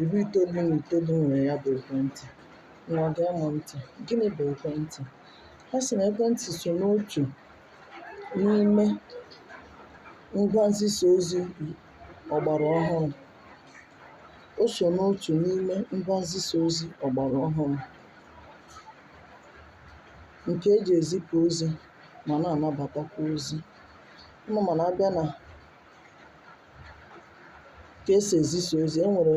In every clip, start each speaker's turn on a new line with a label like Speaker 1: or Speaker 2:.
Speaker 1: Iri itoolu na itoolu nwere ya bụ ekwentị. Ngwa gee m ntị. Gịnị bụ ekwentị? A sị na ekwentị so n'otu n'ime ngwa nzisa ozi ọgbara ọhụrụ. O so n'otu n'ime ngwa nzisa ozi ọgbara ọhụrụ nke e ji ezipụ ozi ma na-anabatakwa ozi. Unu ma na a bịa na ka e si ezisa ozi e nwere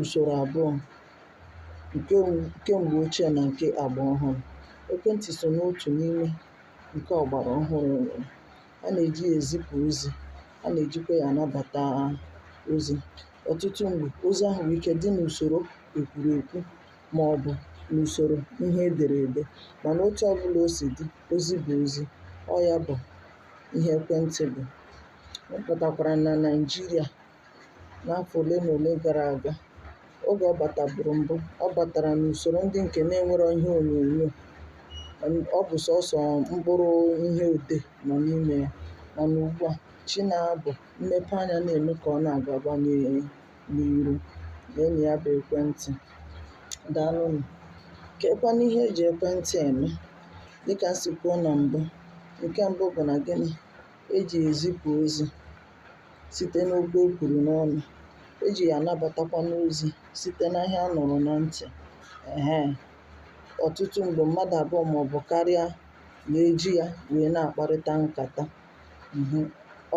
Speaker 1: usoro abụọ nke m- nke mgbe ochie na nke agba ọhụrụ ekwentị so n'otu n'ime nke ọgbara ọhụrụ e nwere a na-eji ya ezipụ ozi a na-ejikwa ya anabata ozi ọtụtụ mgbe ozi ahụ nwere ike dị n'usoro e kwuru ekwu ma ọ bụ n'usoro ihe e dere ede mana otu ọbụla o si dị ozi bụ ozi ọ ya bụ ihe ekwentị bụ Ọ batakwara na Naịjirịa n'afọ ole na ole gara aga. Oge ọ bataburu mbụ, ọ batara n'usoro ndị nke na-enwero ihe onyonyo. Ọ bụ sọsọ mkpụrụ ihe odee nọ n'ime ya. Mana ugbu a, chi na-abọ, mmepeanya na-eme ka ọ na-agaba n'iru. Leenụ ya bụ ekwentị. Daalụ nụ. Keekwanụ ihe e ji ekwentị eme? Dịka m si kwuo na mbụ, nke mbụ bụ na gịnị? E ji ya ezipụ ozi site n'okwu e kwuru n'ọnụ, e ji ya anabatakwanụ ozi site na ihe a nụrụ na ntị. Ehe. Ọtụtụ mgbe, mmadụ abụọ ma ọ bụ karịa na-eji ya wee na-akparịta nkata. Mhm.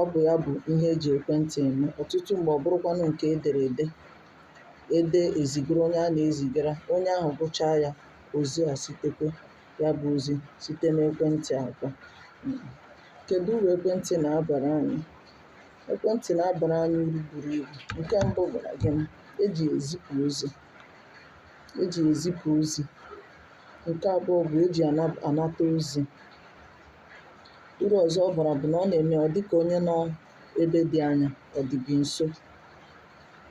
Speaker 1: Ọ bụ ya bụ ihe e ji ekwentị eme. Ọtụtụ mgbe, ọ bụrụkwanụ nke e dere ede, e dee ezigara onye a na-ezigara, onye ahụ gụchaa ya, o zighachitekwa. ya bụ ozi site n'ekwentị akpa. Kèdụ urù ekwentị nà-abàra anyị? Ekwentị nà-abàra anyị urù buru ibù. Ǹke mbụ bụ̀ nà gịnị? E jì yà èzipù ozi, e jì yà èzipù ozi. Ǹke abụọ bụ̀ e jì yà àna ànata ozi. Urù ọ̀zọ ọ bàrà bụ̀ nà ọ nà-ème ọ̀ dịkà onye nọ ebe dị anya ọ̀ dị̀ gị̀ ǹso,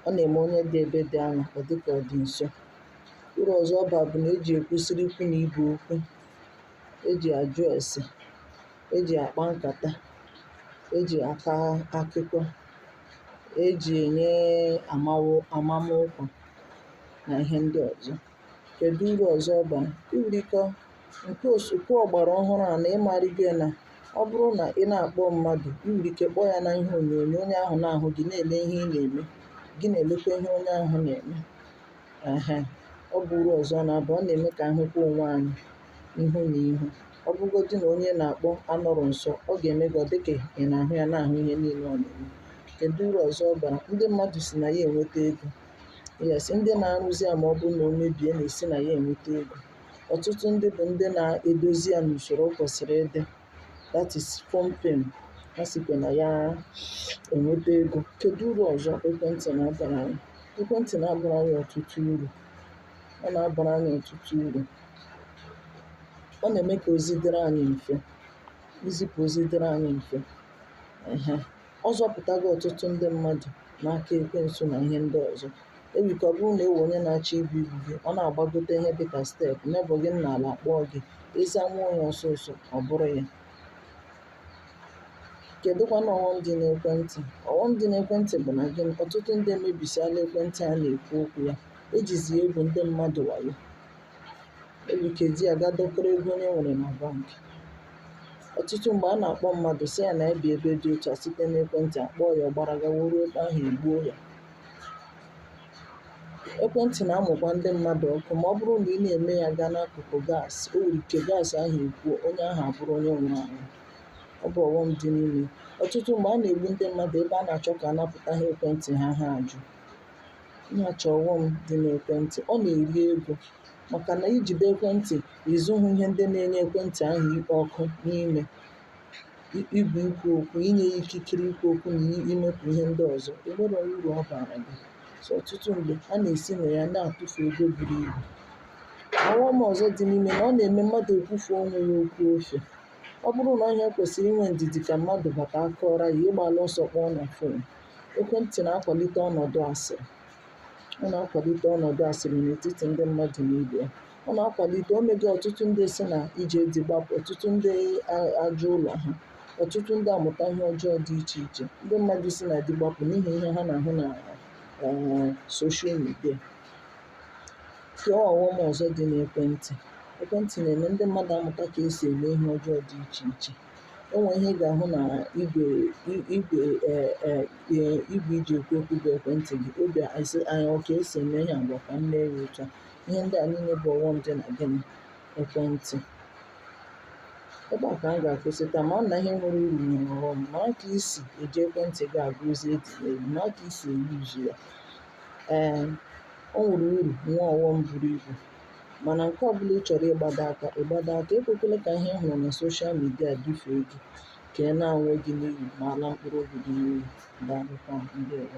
Speaker 1: ọ nà-ème onye dị ebe dị anya ọ̀ dịkà ọ̀ dị̀ ǹso. Urù ọ̀zọ ọ bà bụ̀ nà ejì èkwusiri ikwu nà ibè okwu, ejì àjụ èsè, ejì àkpa nkàta, ejì àkọ akụkọ, ejì ènye àmama ọkwà nà ihe ndị ọ̀zọ. Kèdụ urù ọ̀zọ ọ bà? I nwere ike ǹke òsò ǹke ọ̀gbàrà ọhụrụ à nà ị màrị gị nà ọ bụrụ nà ị na-àkpọ mmadụ̀ i nwèrè ike kpọọ yȧ n'ihe ònyònyò onye ahụ̀ na-àhụ gị na-èle ihe ị nà-ème, gị nà-èlekwa ihe onye ahụ̀ nà-ème. Ehe, ọ bụ uru ọzọ ọ na-aba, ọ na-eme ka anyị hụkwa onwe anyị ihu na ihu. Ọ bụgodị na onye na-akpọ anọrọ nso, ọ ga-eme gị ọ dị ka ị na-ahụ ya, na-ahụ ihe niile ọ na-eme. Kedu uru ọzọ ọ bara? Ndị mmadụ si na ya enweta ego. Yes, ndị na-arụzi ya ma ọ bụrụ na o mebie na-esi na ya enweta ego. Ọtụtụ ndị bụ ndị na-edozi ya n'usoro o kwesịrị ịdị. that is company ha sikwa na ya enweta ego kedu uru ọzọ ekwentị na-abara anyị ekwentị na-abara anyị ọtụtụ uru ọ na-abara anyị ọtụtụ uru ọ na-eme ka ozi dịrị anyị mfe izipụ ozi dịrị anyị mfe ehe Ọ zọpụtago ọtụtụ ndị mmadụ n'aka ekwensu na ihe ndị ọzọ. O yiri ka ọ bụrụ na e nwee onye na-achọ ibu igbu gị, ọ na-agbagote ihe dị ka step, nebọ gị nọ n'ala kpọọ gị, ị zanwuo ya ọsọ ọsọ, ọ bụrụ ya. Kedụkwanụ ọghọm dị n'ekwentị? Ọghọm dị n'ekwentị bụ na gịnị? Ọtụtụ ndị emebisiala ekwentị a na-ekwu okwu ya. E jizi ya egwu ndị mmadụ wayo. e nwere ike iji ya ga dọkọrọ ego onye nwere na bank ọtụtụ mgbe a na-akpọ mmadụ sị ya na ya bi ebe dị otu a site n'ekwentị a kpọọ ya ọ gbara gawa ruo ebe ahụ e gbuo ya ekwentị na-amụkwa ndị mmadụ ọkụ ma ọ bụrụ na ị na-eme ya gaa n'akụkụ gas o nwere ike gas ahụ ekwuo onye ahụ abụrụ onye nwụrụ anwụ ọ bụ ọghọm dị n'ime ọtụtụ mgbe a na-egbu ndị mmadụ ebe a na-achọ ka a napụta ha ekwentị ha ha ajụ Ihe achọ ọghọm dị n'ekwentị, ọ na-eri ego maka na i jide ekwentị ị zụhụ ihe ndị na-enye ekwentị ahụ ikpo ọkụ n'ime igwe ikwu okwu inye ya ikikere ikwu okwu na imepụ ihe ndị ọzọ enwerọ uru ọ bara gị so ọtụtụ mgbe a na-esi na ya na-atụfu ego buru ibu ọghọm ọzọ dị n'ime na ọ na-eme mmadụ ekwufe onwe ya okwu ofe ọ bụrụ na ọ ihe kwesịrị inwe ndidi ka mmadụ bata a kọọrọ ya ị gbala ọsọ kpọọ na fon Ekwentị na-akwalite ọnọdụ asịrị. Ọ na-akwalite ọnọdụ asịrị n'etiti ndị mmadụ na ibe ya. Ọ na-akwalite o mego ọtụtụ ndị si na ije di gbapụ, ọtụtụ ndị a- ajụ ụlọ ha, ọtụtụ ndị amụta ihe ọjọọ dị iche iche. Ndị mmadụ si na di gbapụ n'ihi ihe ha na-ahụ na eh, soshal midia. Kee ọghọm ọzọ dị n'ekwentị. Ekwentị na-eme ndị mmadụ amụta ka e si eme ihe ọjọọ dị iche iche. o nwè ihe ị gà-àhụ nà igwè e ji èkwu okwu bụ̀ ekwentị̀ gị obì àsị gị ọ kà e sì ème ihe à ngwa kà m mee ya òtu à ihe ndị à niile bụ̀ ọ̀ghọm dị nà gịnị nà ekwentị̀ ebe à kà m gà-àkwụsị taa mara nà ihe nwere urù nwèrè ọ̀ghọm mara kà i sì èji ekwentị̀ gị àgụ ozi e zìrì ezi mara kà i sì èyuzu ya ee o nwèrè urù nwee ọ̀ghọm buru ibù Mana nke ọbụla ị chọrọ ịgbado aka, ị gbado aka. Ekwekwele ka ihe ị hụrụ na soshal midia dufee gị ka ị laa onwe gị n'iyi ma laa mkpụrụ obi gị n'iyi. Daalụkwa. Ndewo.